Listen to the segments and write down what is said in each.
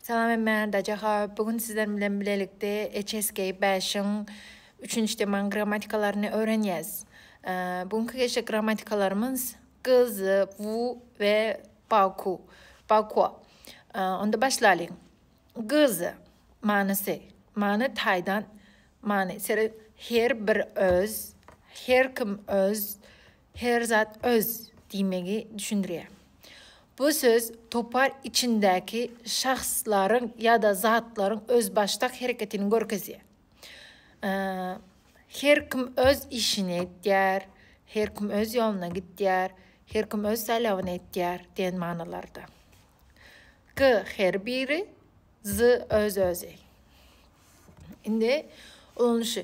Salam hemmä Daja Haww bu gün sizler bilen bilelikde HSK bäşiň üçünji teman grammatikalaryny öwrenýäs. Bu günki geçjek grammatikalarymyz gyz, wu we baku, bakua. Onda başlalyň. Gyz manysy, many taýdan many her bir öz, her kim öz, Her zat öz diýmegi düşündirýär. Bu söz topar içindäki şahslaryň ýa-da zatlaryň özbaşdak hereketini görkezýär. Her kim öz işini etýär, her kim öz ýoluna gitýär, her kim öz saýlawyny etýär diýen manylarda. G. Her biri, Zy öz-özi. Indi ulanyşy.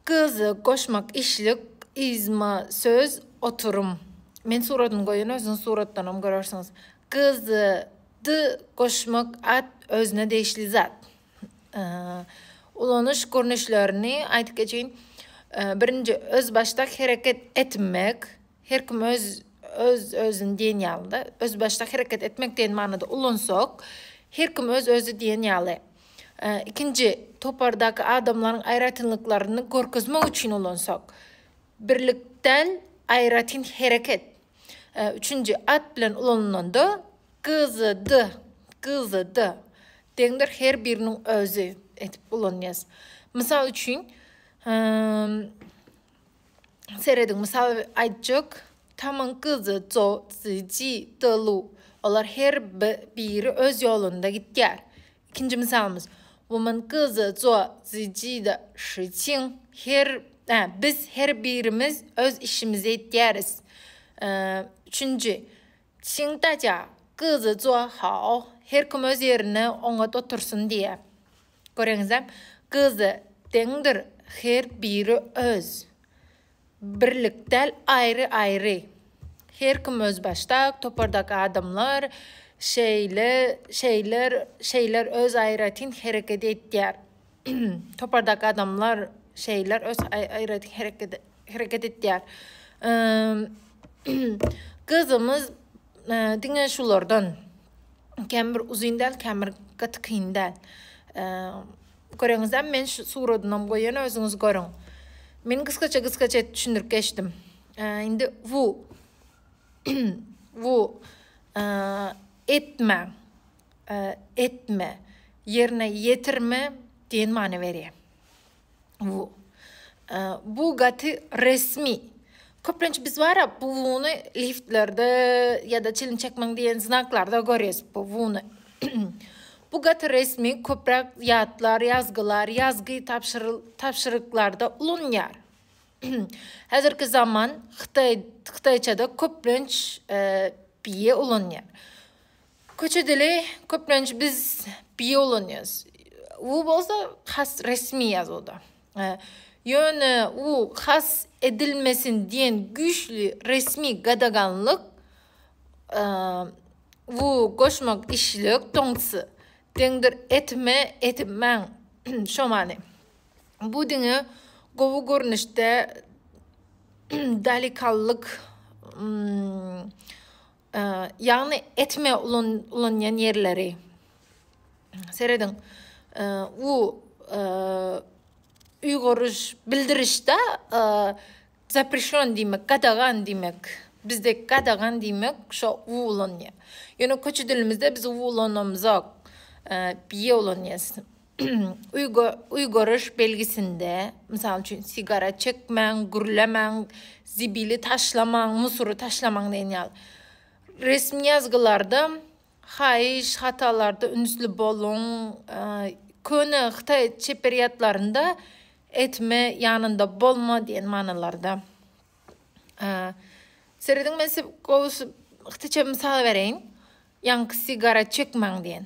Gyzy goşmak işlik yzma söz oturym. Men suradyny goýan özüňiz suratdanam görersiňiz. Gyzy dy goşmak at özüne degişli zat. Ulanyş görnüşlerini aýdyp geçeýin. Birinji özbaşdak hereket etmek. Her kim öz öz özüni diýen ýalyda özbaşdak hereket etmek diýen manyda ulansak her kim öz özi diýen ýaly ikinji topardaky adamlaryň aýratynlyklaryny görkezmek üçin ulansak birlikdel aýratyn hereket üçünji at bilen ulanylanda gyzydy gyzydy deňdir her biriniň özi edip ulanýas mysal üçin Serediň, mysal aýtjak, Tamyň gyzy Zo, Ziji, Delu. Olar her biri öz ýolunda gitýär. Ikinji mysalymyz, Wumyň gyzy Zo, Ziji de Şiçiň. Her, ä, biz her birimiz öz işimizi etýäris. Üçünji, Çiň daja gyzy Zo, Hao. Her kim öz ýerine oňat otursyn diýýär. Göreňizä, gyzy deňdir, her biri öz. Birlik däl, aýry-aýry. Her kim özbaşdak, topardaky adamlar şeýle, şeýler, şeýler öz aýratyn hereket etýär. Topardaky adamlar şeýler öz aýratyn hereket, hereket etýär. Gyzymyz diňe şulardan. Kän bir uzyn däl, kän bir gaty kyn däl. Göreňizem men şu suradynam goýan özüňiz görüň. Men gysgaça gysgaça edip düşündirip geçdim. Indi bu bu etme etme ýerine ýetirme diýen many berýär. Wu. Bu gaty resmi. Köplenç biz bara bu wuny liftlerde ýa-da çilim çekmäň diýen znaklarda görýäs bu wuny. Bu gaty resmi köpräk ýatlar, ýazgylar, ýazgy tabşyryklarda ulanýar. Häzirki zaman hytaýçada köplenç bie ulanýar. Köçe dili köplenç biz bi ulanýarys. U bolsa has resmi ýazuwda. Ýöne u has edilmesin diýen güýçli resmi gadaganlyk u goşmak işlik toňtsy deňdir etme etmäň şo many. Bu diňe gowy görnüşde dalikallyk Ýagny etme ulanýan ýerleri. Serediň. U uýguryş bildirişde zaprişon diýmek, gadagan diýmek. Bizde gadagan diýmek şo u ulanýar. Ýöne köçe dilimizde biz u ulanamyzok. Bie ulanýas. Uý görüş belgisinde, mysal üçin, sigara çekmäň, gürlemäň, zibili taşlamaň, musury taşlamaň diýen ýaly resmi ýazgylarda haýyş, hatalarda ünsli boluň, köne hytaý çeperýatlarynda etme, ýanynda bolma diýen manylarda. Serediň, men size gowusy hytaýça mysal bereýin. Ýaňky sigara çekmäň diýen.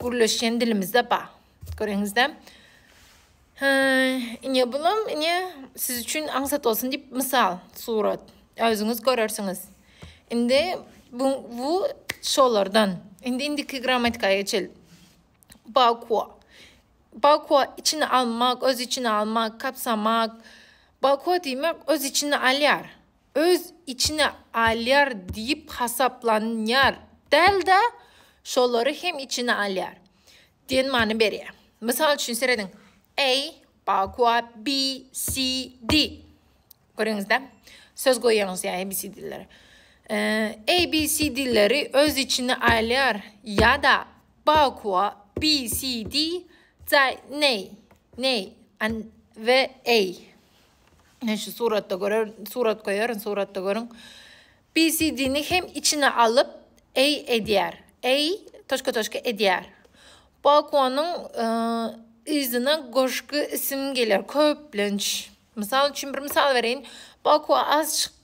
Gürleşýän dilimizde ba. Göreňizde. Hä, ine bulam ine siz üçin aňsat bolsun diýip mysal surat. Özüňiz görersiňiz. Indi bu bu şolardan. Indi indiki grammatika geçel. Bakwa. Bakwa içine almak, öz içine almak, kapsamak. Bakwa diýmek öz içine alýar. öz içine alýar diýip hasaplanýar däl-de, şolary hem içine alýar diýen many berýär. Mysal üçin serediň, A, Bagua, B, C, D. Görýäňiz-dä? Söz goýýaňyz ýa A, B, C, D-lere. A, B, C, D-leri öz içine alýar ýa-da Bagua, B, C, D, Zai, Nei, Nei, An we A. Men şu suratda görer, surat goýaryn, suratda görüň. BCD-ni hem içine alyp A edýär. A toşka toşka edýär. Balkonyň yzyna goşgy isim geler köplenç. Mysal üçin bir mysal bereýin. Balkona az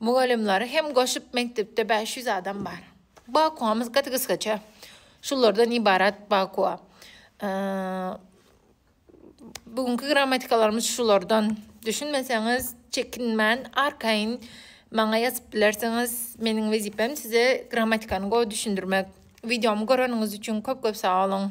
Mugallymlary hem goşup mekdepde bäş ýüz adam bar. Bakuamyz gaty gysgaça. Şulardan ibarat bakua. Bu günki grammatikalarymyz şulardan. Düşünmeseňiz, çekinmän, arkaýyn maňa ýazyp bilersiňiz. Meniň wezipem size grammatikany gowy düşündirmek. Wideomy göreniňiz üçin köp-köp sag boluň.